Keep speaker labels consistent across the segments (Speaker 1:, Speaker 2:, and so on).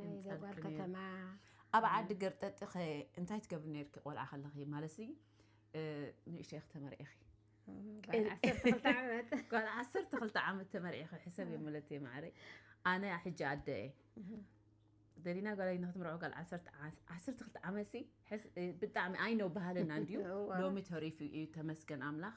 Speaker 1: ናይ ዘጓር ከተማ ኣብ ዓዲ ገርጠጢ
Speaker 2: ከ እንታይ ትገብሪ ነርኪ ቆልዓ ከለኺ ማለትሲ ንእሽተይ ክተመርዒኺ
Speaker 1: ጓል ዓሰርተ ክልተ
Speaker 2: ዓመት ተመርዒኺ ሕሰብ እየ መለት እየ ማዕረይ ኣነ ሕጂ ኣደ እየ ደሊና ጓላይ ንክትምርዖ ጓል ዓሰርተ ክልተ ዓመት ሲ ብጣዕሚ ኣይነው ባህልና እንድዩ ሎሚ ተሪፍ እዩ ተመስገን ኣምላኽ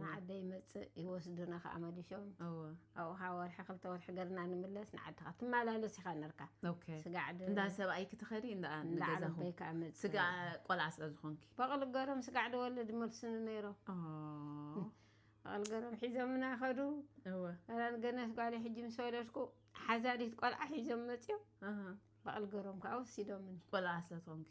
Speaker 1: ንዓደይ ይመፅእ ይወስዱና ከዓ መሊሾም ኣብኡ ከዓ ወርሒ ክልተ ወርሒ ገርና ንምለስ ንዓድካ ትመላለስ ኢካ ነርካ ስጋዕ
Speaker 2: እንዳ ሰብኣይ
Speaker 1: ክትኸዲ
Speaker 2: እንዳዓለበይ ከዓ መፅ ስጋ ቆልዓ ስለ ዝኾንኪ በቕሊ ገሮም ስጋዕ
Speaker 1: ደወለ ድመልስኒ ነይሮም በቕሊ ገሮም ሒዞምና ከዱ ራን ገነት ጓለ ሕጂ ምስ ወለድኩ ሓዛሪት ቆልዓ ሒዞም መፅዮም በቕሊ ገሮም ከዓ ወሲዶምኒ ቆልዓ ስለ ዝኾንኪ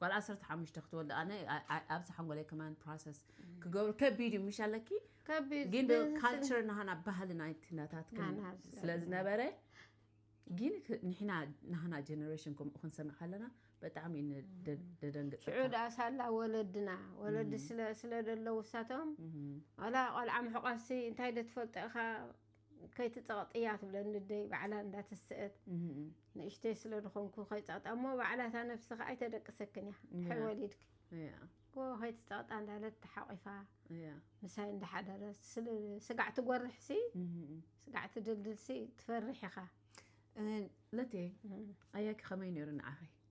Speaker 2: ጓል ዓሰርተ ሓሙሽተ ክትወልድ ኣነ ኣብዚ ሓንጎለይ ከማን ፕሮሰስ ክገብሩ ከቢድ እዩ ምሽ ኣለኪ ግን
Speaker 1: ካልቸር
Speaker 2: ናሃና ባህሊ ናይቲ ነታት ስለ ዝነበረ ግን ንሕና ናሃና ጀነሬሽን ከምኡ ክንሰምዕ ከለና ብጣዕሚ ደደንግፅ ሽዑ ደኣ ሳላ
Speaker 1: ወለድና ወለዲ ስለ ደለው ውሳቶም ዋላ ቆልዓ ምሕቋፍሲ እንታይ ዶ ትፈልጦ ኢኻ ከይትጸቕጥያ ትብለኒ ኣደይ ባዕላ እንዳ ተሰእት ንእሽተይ ስለ ዝኾንኩ ከይጸቕጣ እሞ ባዕላ እታ ነብሲ ከኣ ኣይተደቅሰክን እያ ድሕሪ ወሊድኪ ጎ ከይትጸቕጣ እንዳለት ተሓቂፋ ምሳይ እንዳሓደረ ስጋዕ ትጎርሕ ሲ ስጋዕ ትድልድል ሲ ትፈርሕ ኢኻ
Speaker 2: ለቴ ኣያኪ ከመይ ነይሩ ንዓኺ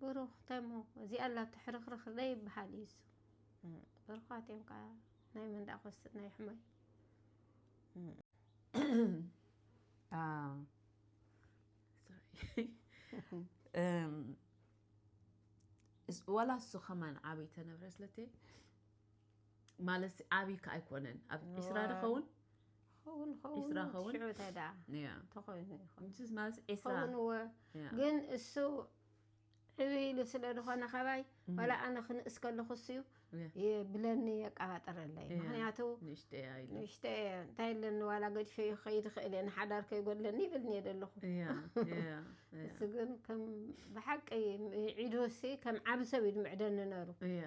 Speaker 1: ብሩኽ ተሙ እዚኣ ኣላ ትሕርኽርኽ ደይ ይበሃል እዩ እሱ ብሩኻት እዮም ከዓ ናይ መንዳ ኮስት ናይ
Speaker 2: ሕማይ ዋላ እሱ ከማን ዓብይ ተነብረ ስለቲ ማለት ዓብይ ከ ኣይኮነን ኣብ ዒስራ ድኸውን ኸውን ኸውን ዒስራ ኸውን? ሽዑ እንታይ ደኣ ያ
Speaker 1: ተኾይኑ ይኾን
Speaker 2: ንስስ ማለት ዒስራ ኸውን እወ ያ
Speaker 1: ግን እሱ ዕብ ኢሉ ስለ ዝኾነ ከባይ ዋላ ኣነ ክንእስ ከለኹ እሱ እዩ ያ የ- ብለኒ የቀባጥረለይ ያ። ምክንያቱ ንእሽተይ እያ ኢሉ ንእሽተ እየ እንታይ ኣለኒ ዋላ ገድፈ ከይድ ይኽእል እየ ንሓዳር ከይጎድለኒ ይብል እየ ዘለኹ ያ ያ ያ እሱ ግን ከም ብሓቂ ዒዱሲ ከም ዓብ ሰብ እዩ ድምዕደኒ ነሩ ያ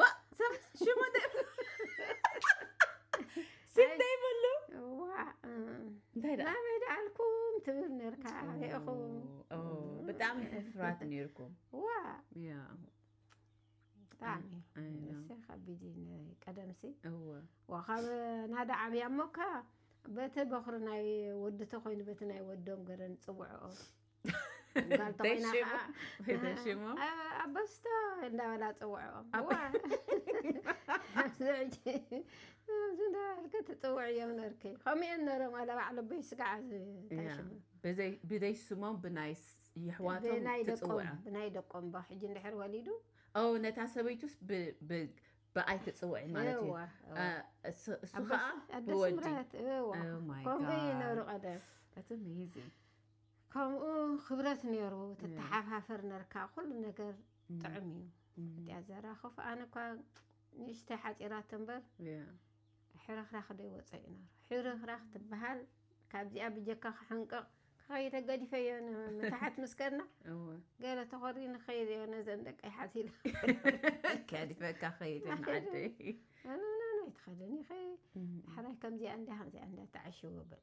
Speaker 2: ዋእ ሰብ ሽሙ ስም ዘይብሉ እንታይ
Speaker 1: ደኣ ናበይ ደኣልኩም ትብል ነርካ ርኢኹም ብጣዕሚ
Speaker 2: ሕፍራት ነርኩም ዋ
Speaker 1: ብጣዕሚ ንሰ ከቢድ ቀደምሲ ወካብ ናዳ ዓብያ እሞካ በቲ በኽሪ ናይ ወዲ ተኮይኑ በቲ ናይ ወዶም ገረን ፅውዕኦ
Speaker 2: ኣበስቶ
Speaker 1: እንዳበላ ፅውዕኦም ዝንዳበልክ ትፅውዕ እዮም ነርክ ከምኡ እየን ነሮም ኣለ ባዕሉ በይ ስጋዓ ብዘይ
Speaker 2: ስሞም ብናይ ይሕዋቶም
Speaker 1: ትፅውዕ ብናይ
Speaker 2: ደቆም ባ
Speaker 1: ሕጂ እንድሕር ወሊዱ ነታ ሰበይቱስ ብኣይ
Speaker 2: ትፅውዒ ማለት
Speaker 1: እዩ እሱ
Speaker 2: ከዓ ብወዲ
Speaker 1: ከምኡ
Speaker 2: ይነሩ
Speaker 1: ቀደም
Speaker 2: ከምኡ
Speaker 1: ክብረት ነይሩ ትተሓፋፈር ነርካ ኩሉ ነገር ጥዑም እዩ እቲያ ዘራኸፉ ኣነ እኳ ንእሽተይ ሓፂራት እምበር ሕርኽራኽ ዶ ይወፀ እዩ ነሩ ሕርኽራኽ ትበሃል ካብዚኣ ብጀካ ክሕንቅቕ ከኸይ ተገዲፈዮ መታሓት ምስ ከድና ገለ ተኾሪ ንኸይድ እዮ ነዘን ደቂ ይሓት ኢለ ከዲፈካ
Speaker 2: ኸይድ ንዓደይ
Speaker 1: ኣይትኸደኒ ኸ ሓራይ ከምዚኣ እንዳ ከምዚኣ እንዳ ተዓሽዎ በል